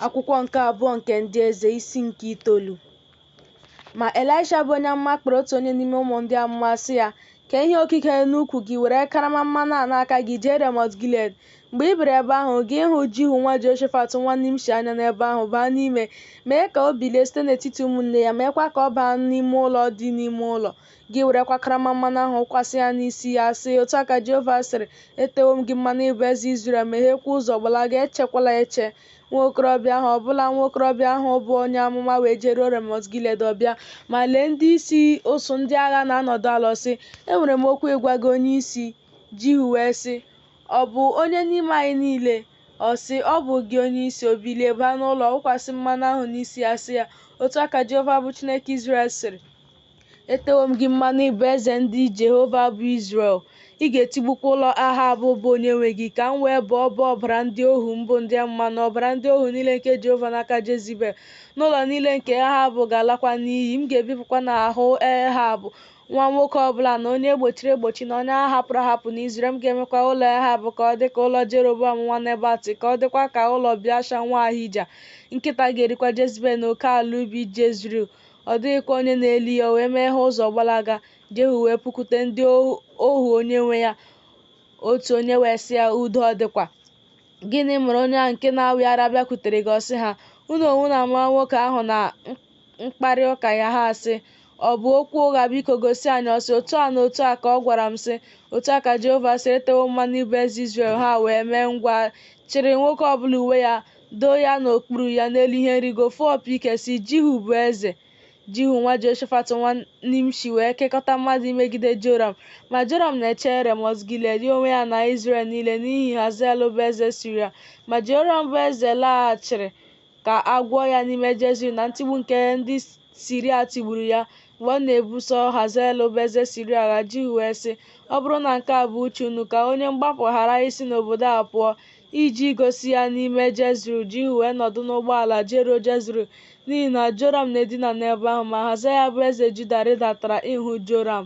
Akwụkwọ nke abụọ nke ndị eze isi nke itoolu. Ma Elisha bụ onye amụma kpọrọ otu onye n'ime ụmụ ndị amụma sị ya, Kee ihe okike n'ukwu gị, were karama mmanụ a n'aka gị jee Remọt Gilead. Mgbe ị bịara ebe ahụ, gị hụ Jihu nwa Jehoshafat nwa Nimshi anya n'ebe ahụ, baa n'ime, mee ka o bilie site n'etiti ụmụnne ya, meekwa ka ọ baa n'ime ụlọ dị n'ime ụlọ. Gị werekwa karama mmanụ ahụ wụkwasị ya n'isi ya, sị, Otu a ka Jehova sịrị, Etewo m gị mmanụ ịbụ eze Izrel, megheekwa ụzọ gbalaga, echekwala eche. Nwa okorobịa ahụ, ọbụna nwa okorobịa ahụ bụ onye amụma, wee jeruo Remọt Gilead. Ọ bịa, ma lee, ndị isi usuu ndị agha na-anọdụ ala. Ọ sị, Enwere m okwu ịgwa gị, onye isi. Jihu wee sị, Ọ bụ onye n'ime anyị niile? Ọ sị, Ọ bụ gị, onye isi. O bilie baa n'ụlọ, wụkwasị mmanụ ahụ n'isi ya, sị ya, Otu a ka Jehova bụ Chineke Izrel sịrị, Etewo m gị mmanụ ịbụ eze ndị Jehova bụ Izrel. Ị ga-etigbukwa ụlọ Ahab bụ onyenwe gị, ka m wee bọọ ọbọ ọbara ndị ohu m bụ ndị amụma na ọbara ndị ohu niile nke Jehova n'aka Jezibel, na ụlọ niile nke Ahab ga-alakwa n'iyi. M ga-ebipụkwa n'ahụ Ahab nwa nwoke ọ bụla na onye e gbochiri egbochi na onye a hapụrụ ahapụ n'Izrel. M ga-emekwa ụlọ Ahab ka ọ dị ka ụlọ Jeroboam nwa Nebat, ka ọ dịkwa ka ụlọ Biasha nwa Ahija. Nkịta ga-erikwa Jezibel n'oke ala ubi Jezril. Ọ dịghịkwa onye na-eli ya, o wee meghee ụzọ gbalaga. Jehu wee pụkwute ndị ohu onyenwe ya, otu onye wee sị ya, Udo ọ dịkwa? Gịnị mere onye ahụ nke na-awị ara bịakwutere gị? Ọ sị ha, Unu onwe unu amara nwoke ahụ na mkparị ụka ya. Ha sị, Ọ bụ okwu ụgha, biko gosi anyị. Ọ sị, Otu a na otu a ka ọ gwara m, sị, Otu a ka Jehova sịrị, Etewo mmanụ ịbụ eze Izrel. Ha wee mee ngwa chịrị nwoke ọ bụla uwe ya doo ya n'okpuru ya n'elu ihe nrigo, fụọ opi ike, sị, Jihu bụ eze. Jihu nwa Jehoshafat nwa Nimshi wee kekọta mmadụ imegide Joram. Ma Joram na-eche Remọt Gilead, ya onwe ya na Izrel niile, n'ihi Hazael bụ eze Siria. Ma Joram bụ eze laghachiri ka a gwọọ ya n'ime Jezril na ntigbu nke ndị Siria tigburu ya mgbe ọ na-ebuso Hazael bụ eze Siria agha. Jihu wee sị, Ọ bụrụ na nke a bụ uche unu, ka onye mgbapụ ghara isi n'obodo a pụọ, Iji gosi ya n'ime Jezril, Jihu wee nọdụ n'ụgbọala jeruo Jezril, n'ihi na Joram na-edina n'ebe ahụ. Ma Ahazaya bụ eze Juda rịdatara ịhụ Joram.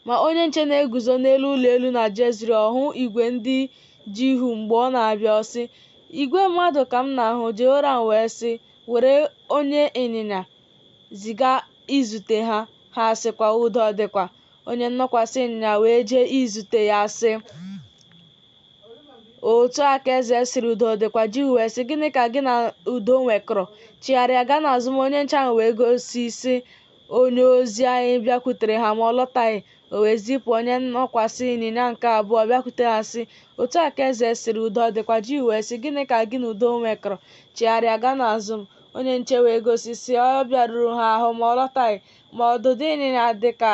Ma onye nche na-eguzo n'elu ụlọ elu na Jezril, ọ hụ igwe ndị Jihu mgbe ọ na-abịa, ọ sị, Igwe mmadụ ka m na-ahụ. Joram wee sị, Were onye ịnyịnya ziga izute ha. Ha sịkwa, Udo ọ dịkwa? Onye nnọkwasị ịnyịnya wee jee izute ya, sị, otu a ka eze sịrị udo dịkwa jihu wee sị gịnị ka gị na udo nwekọrọ chigharịa gaa n'azụ m onye nche ahụ wee gosi sị onye ozi anyị bịakwutere ha ma ọ lọtaghị o wee zipụ onye nnọkwasị ịnyịnya nke abụọ bịakwute ha sị otu a ka eze sịrị udo dịkwa jihu wee sị gịnị ka gị na udo nwekọrọ chigharịa gaa n'azụ m onye nche wee gosi sị ọ bịaruru ha ahụ ma ọ lọtaghị ma ọdụdụ ịnyịnya dị ka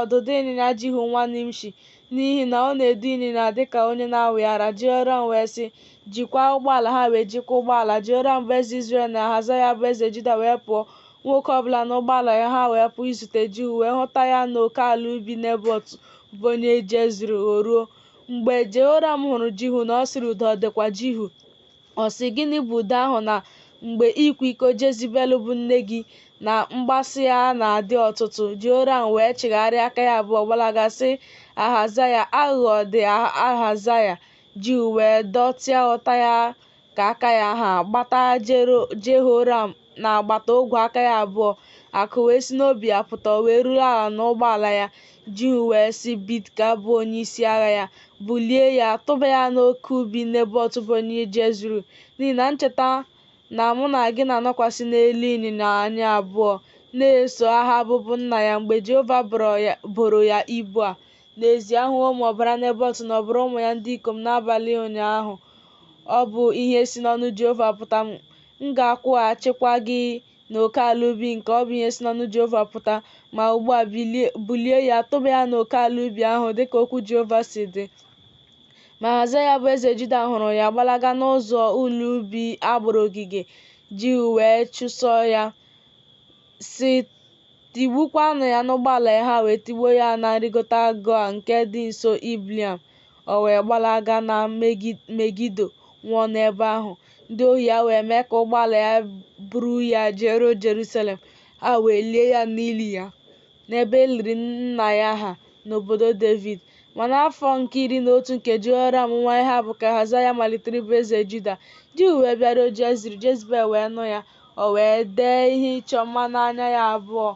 ọdụdụ ịnyịnya Jihu nwa Nimshi, n'ihi na ọ na-edu ịnyịnya dị ka onye na-awị ara. Jehoram wee sị, Jikwaa ụgbọala. Ha wee jikwaa ụgbọala. Jehoram bụ eze Izrel na Ahazaya bụ eze Juda wee pụọ, nwoke ọ bụla n'ụgbọala ya. Ha wee pụọ izute Jihu, wee hụta ya n'oke ala ubi Nebọt bụ onye Jezril. O ruo, mgbe Jehoram hụrụ Jihu na ọ sịrị, Udo ọ dịkwa, Jihu? Ọ sị, Gịnị bụ udo ahụ na mgbe ịkwa iko Jezibel bụ nne gị na mgbasị ya na-adị ọtụtụ? Jehoram wee chigharịa aka ya abụọ gbalaga sị Ahazaya, Aghụghọ dị, Ahazaya! Jihu wee dọtịa ụta ya ka aka ya ha gbata Jehoram n'agbata ogwe aka ya abụọ akụ wee si n'obi ya pụta o wee ruru ala n'ụgbọala ya jihu wee sị bidka bụ onye isi agha ya bulie ya tụba ya n'oke ubi nebọt bụ onye jezril n'ihi na ncheta na mụ na gị na-anọkwasị n'elu ịnyịnya anyị abụọ na-eso ahab bụ nna ya mgbe jehova boro ya ibu a n'ezie ahụwo m ọbara nebọt na ọbara ụmụ ya ndị ikom n'abalị ụnyaahụ ọ bụ ihe si n'ọnụ jehova pụta m M ga-akwụghachikwa gị n'oke ala ubi nke a, ọ bụ ihe si n'ọnụ Jehova pụta. Ma ugbu a, bulie ya, tụba ya n'oke ala ubi ahụ, dị ka okwu Jehova si dị. Ma Ahazaya bụ eze Juda hụrụ ya gbalaga n'ụzọ ụlọ ubi a gbara ogige, Jihu wee chụsoo ya, sị, Tigbukwaanụ ya n'ụgbọala ya. Ha wee tigbuo ya na nrịgota Gua nke dị nso Ibleam. O wee gbalaga na Megido, nwụọ n'ebe ahụ. Ndị ohu ya wee mee ka ụgbọala ya buru ya jeruo Jerusalem, ha wee lie ya n'ili ya, n'ebe e liri nna ya ha, n'obodo Devid. Ma n'afọ nke iri na otu nke Jehoram nwa Ehab ka Ahazaya malitere ịbụ eze Juda. Jihu wee bịaruo Jezril, Jezebel wee nụ ya. O wee dee ihe ịchọ mma n'anya ya abụọ,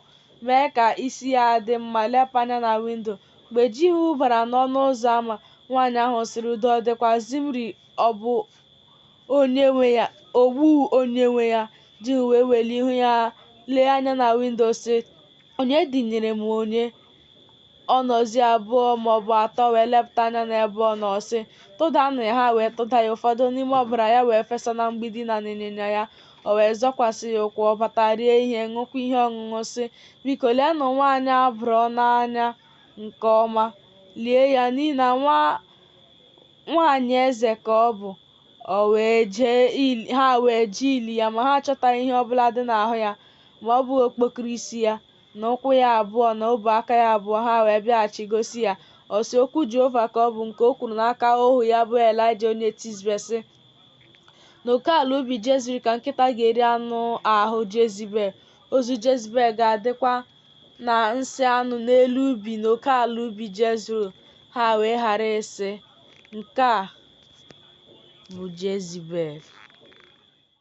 mee ka isi ya dị mma, lepụ anya na windo, Mgbe Jihu bara n'ọnụ ụzọ ama, nwaanyị ahụ sịrị, Udo ọ dịkwa Zimri ọ bụ onyenwe ya? Ogbu onyenwe ya! Jihu wee welie ihu ya lee anya na windo sị, Onye dịnyere m onye? Onozi abụọ ma ọ bụ atọ wee lepụta anya n'ebe ọ nọ sị, Tụdanụ ya! Ha wee tụda ya, ụfọdụ n'ime ọbara ya wee fesa na mgbidi na n'ịnyịnya ya. O wee zọkwasị ya ụkwụ, ọ bata rie ihe, ṅụkwa ihe ọṅụṅụ, sị, Biko, leenụ nwaanyị a bụrụ ọnụ anya nke ọma, lie ya, n'ihi na nwa nwaanyị eze ka ọ bụ. Ha wee jee ili ya, ma ha achọtaghị ihe ọbụla dị n'ahụ ya, ma ọ bụghị okpokoro isi ya, na ụkwụ ya abụọ, na ọbụ aka ya abụọ. Ha wee bịaghachi gosi ya, ọ sị, Okwu Jehova ka ọ bụ, nke o kwuru n'aka ohu ya bụ Elaịja onye Tizbe, sị, n'oke ala ubi jezril ka nkịta ga-eri anụ ahụ jezibel ozu jezibel ga-adịkwa na nsị anụ n'elu ubi n'oke ala ubi jezril ha wee ghara ịsị nke a bụ jezibel